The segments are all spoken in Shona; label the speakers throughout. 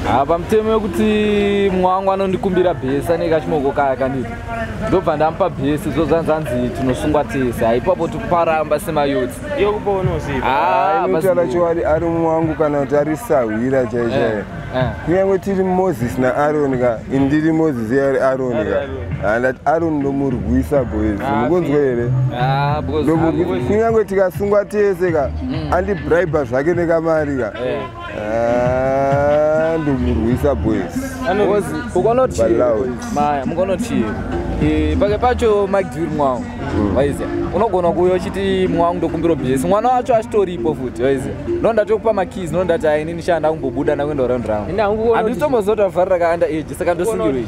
Speaker 1: Ah, pamutemo wekuti mumwe wangu anondikumbira bhesi anenge achimoko kaya kanditi ndobva ndamupa bhesi zvo zvanzi anzi tinosungwa tese haipapo tikuparamba semayotsi
Speaker 2: yokuponozivaanotaurachokwadi
Speaker 3: ah, ari mumwe wangu kana kuti ari sahwira chaichaiyo eh, eh. kunyange tiri moses naaroni ka indiri moses yeari aroni ka andati ah, aroni ndomurwisa boys mukunzwa here kunyange tikasungwa tese ka mm. andibribe zvake nekamari ka eh. Ah, ndomurwisa boys
Speaker 1: maya mukonotiye eh, pake pacho mike duri mwangu mm. waiza unogona kuuya uchiti mwangu ndokumbira bhesi mwana wacho achitoripo futi waiza no ndatokupa makeys no ndati aini nishanda kumbobuda ndakuenda uraundi rangu handitombozoti vafarira kaanda age saka ndosungirwei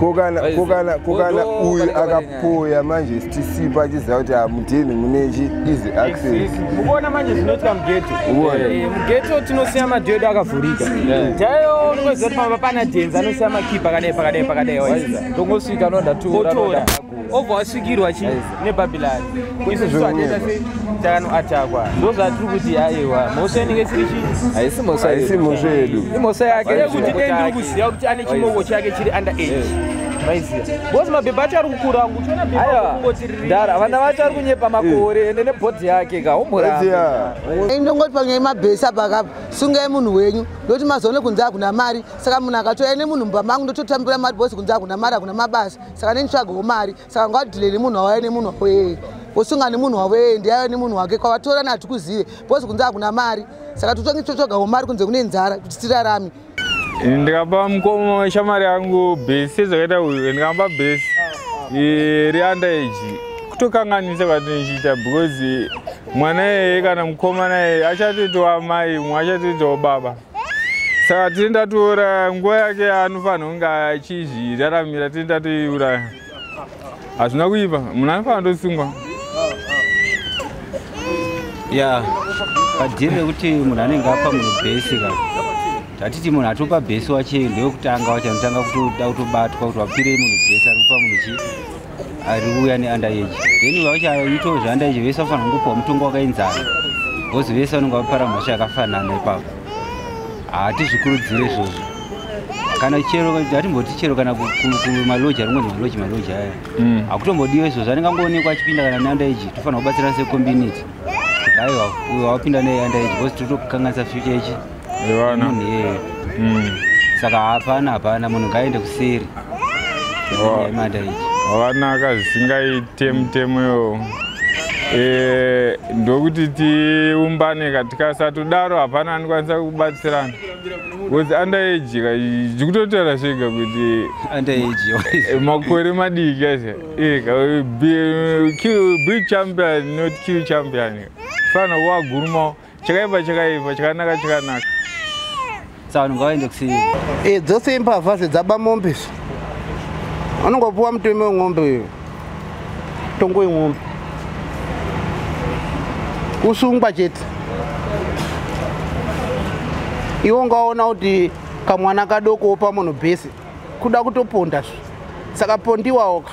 Speaker 1: kokana kokana
Speaker 3: kokana uyu akapoya manje tisipa achiziva kuti hamudheni mune chi easy access ukuona manje
Speaker 2: zvinoitika mugeto eh, mugeto tinosiya madhoo edu akavhurika chaiyo unoziva kuti pamba pana dhenzi anosiya makipa akadai pakadai pakadai ndongosvika
Speaker 1: nondatora obva wasvikirwa
Speaker 2: chi nebhabhilari isusu atenda se takanoatakwa ndo zvatiri kuti haiwa mhosva inenge siri chii haisi mhosva haisi mhosva
Speaker 3: yedu imhosva yake yekuti
Speaker 1: dei ndiri kuziva
Speaker 2: kuti ane chimoko chake chiri under age maiziva bcause mabhebha acho ari kukura angu uchiona bhebhaara vana
Speaker 1: vacho ari kunyepa makore ende nebhodhi yake ka umhuraiziva ndongoti panyaya
Speaker 4: yemabhesi apa akapa sungai munhu wenyu ndokuti mazoone kunze akuna mari saka munhu akatoya nemunhu mumba mangu ndototambira mari bcause kunze akuna mari akuna mabasa saka nenitsvagawo mari saka ngadhile nemunhu wawaya nemunhu wavo yeye wosunga nemunhu wavo yeye ndiyayo nemunhu wake kwavatora nati kuzive bcause kunze hakuna mari saka totange totsvagawo mari kunze kune nzara kuti tirarame ndikapa
Speaker 5: mukoma weshamari yangu besi sezvakaita uyu ndikamba besi reunderage kutokanganisa kwatinochiita because mwana yeye kana mukoma naye achatoitawo amai mwe achatoitawo baba saka tiri ndatouraya nguva yake anofanira kunge achizviraramira tiri ndatoiuraya hazvina kuipa munhu anofanira ndosungwa ya
Speaker 6: padhiri rekuti munhu anenge apa munhu bhesi ka tatiti munhu atopa bhesi wache ndeyokutanga wache anotanga kutoda kutobatwa kuti wapirei munhu bhesi ari kupa munhu chii ariuya neundereji then vachaitawo zveundereji vese vafanira kungopiwa mutongo wakaenzana bcause vese vanenge vapara mhosva yakafanana ipapo hatizvikurudzire izvozvo kana chero hatimboti chero kana kumaloji aringonzi maloji maloji aya mm. hakutombodiwa izvozvo anenge angoonekwa achipinda kana neundereji tofanira kubatsirana secommunity kuti aiwa uyo wapinda neundereji bcause tiri kutokanganisa future ichi Ivana. munhu iyeye Mm. saka hapana hapana munhu ngaaende kuseri Oh. yemada iyi Wakanaka
Speaker 5: zvisingaite mutemo iwowo. Eh, ndokuti tiumbane ka tikasatodaro hapana anokwanisa kubatsirana. Because under age ka zvikutotaura zvega kuti under age eh, makore madiki aise. Eh, ka be, kill, be champion not kill champion. Fana wagurumawo. chakaipa chakaipa chakanaka chakanaka
Speaker 6: sa vanhu ngavaende kusiya e dzose imbavha
Speaker 4: zve dzaba mombe zve anongopuwa muteme weng'ombe uyo tongo weng'ombe kusungwa chete iwo ungaona kuti kamwana kadoko wopa munhu bhesi kuda kutoponda zve saka pondiwawo ka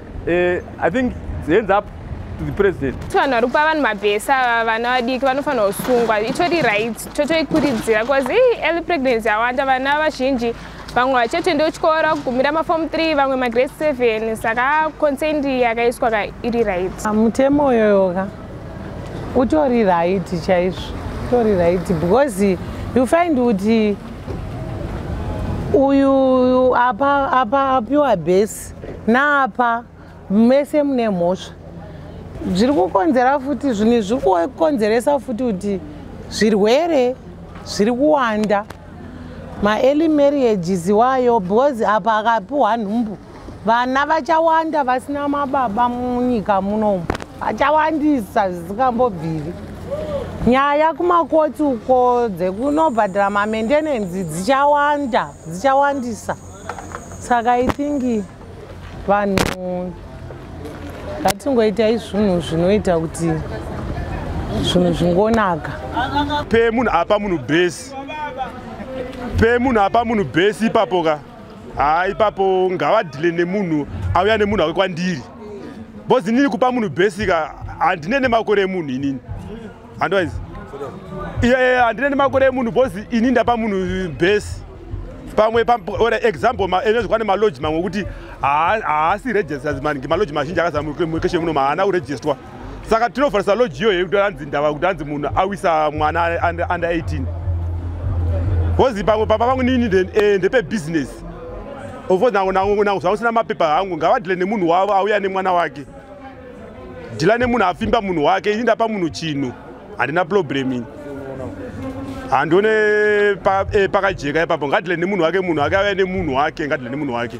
Speaker 2: eh, i think hands up to the president vanhu vari kupa vanhu
Speaker 7: mabhesa ava vana vadiki vanofanira kusungwa itori right totoikuridzira bcause ii early pregnancy awanda vana vazhinji vamwe vachatoenda kuchikoro kugumira mafomu 3 vamwe magrade 7 saka consent yakaiswa ka iri right ah, mutemo uyoyoka
Speaker 4: utori right chaizvo utori right because you find kuti uyu apa apa apiwa base naapa mese mune mhosva zviri kukonzera futi zvinhu zviri kukonzeresa futi kuti zvirwere zviri kuwanda maearly marriages iwayo because apa akapiwa nhumbu vana vachawanda vasina mababa munyika munomu vachawandisa zvisingambobviri nyaya kumakoti uko dzekunobhadhira mamaintenance dzichawanda dzichawandisa saka i think vanhu ngatingoitai zvinhu zvinoita kuti zvinhu zvingonaka pe
Speaker 2: munhu apa munhu bhesi pe munhu apa munhu bhesi ipapo ka haa ipapo ngavadhile nemunhu auya nemunhu ake kwandiri bhozi inini kupa munhu bhesi ka handine nemakore emunhu inini handiwaizi iye handine nemakore emunhu bcause ini ndapa munhu base pamwe ore example enezvikwane maloji mamwe okuti haasi registers maningi maloji mazhinji akazamukeshe muno maana kuregistwa saka tinofarisa loji iyoyo yekuti anzi ndava kuti anzi munhu awisa mwana under 18 bcause pamwe papa pangu nini eh, ndepebusiness ofcourse nangu nangu nangu zvausina mapepa hangu ngavadile nemunhu wavo auya nemwana wake dhila nemunhu afimba munhu wake ini ndapa munhu chinhu handina problem ini handione eh, pakajeka pa ipapo ngadhile nemunhu wake munhu wake auya nemunhu wake ngadhile nemunhu wake